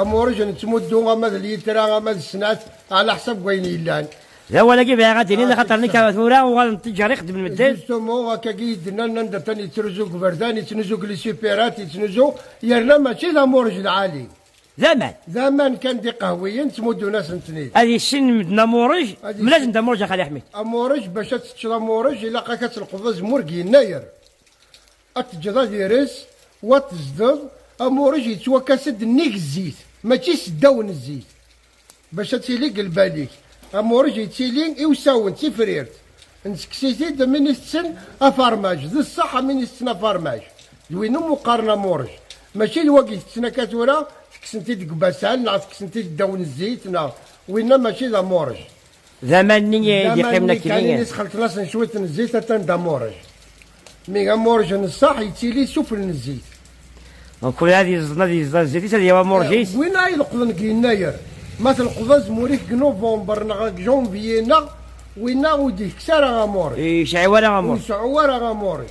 Amuric n ttmuddu ama d littra ama d snat ɛla ḥsab n wayen yellan. D awal-agi bɣiɣ ad d-iniḍ axaṭer nekk tura uɣalen tteǧǧar i xeddmen medden. Justement akka-gi i d-nnan anda atan yettruzu deg uberdan, yettnuzu deg lisupirat, yettnuzu yerna mačči d amuric lɛali. D aman. D aman kan d iqehwiyen ttmuddun-asen-ten-id. Ad yissin medden amuric, mel-asen-d amuric a Xali Ḥmid. Amuric bac ad teččeḍ amuric ilaq-ak ad tleqḍeḍ azemmur deg yennayer. Ad teǧǧeḍ ad ires, wa ad tezdeḍ, amuṛej yettwakas-d nnig zzit, mačči s ddaw n zzit, bac ad tili deg lbal-ik. Amuṛej yettili i usawen, d tifrirt. Nettekkes-it-id am win itetten afarmaj. D ṣṣeḥ am win itetten afarmaj, d win umi qqaren amuṛej. Mačči d wagi tetten akka tura, tekksen-t-id deg ubasal, neɣ tekksen-t-id ddaw n zzit, neɣ. Winna mačči d amuṛej. D aman-nni i d-iqqimen akli. D aman-nni kan i sxelṭen-asen cwiṭ n zzit atan d amuṛej. Mi amuṛej n ṣṣeḥ yettili sufel n zzit. Donc ad yeẓden ad yeẓden zzit-is ad yawi amuṛej-is. Win ay leqḍen deg yennayer. Ma tleqḍeḍ azmur-ik deg nuvember neɣ deg janvier neɣ winna ur d-yekks ara amuṛej. Ur iseɛɛu ara amuṛej. Ur iseɛɛu ara amuṛej.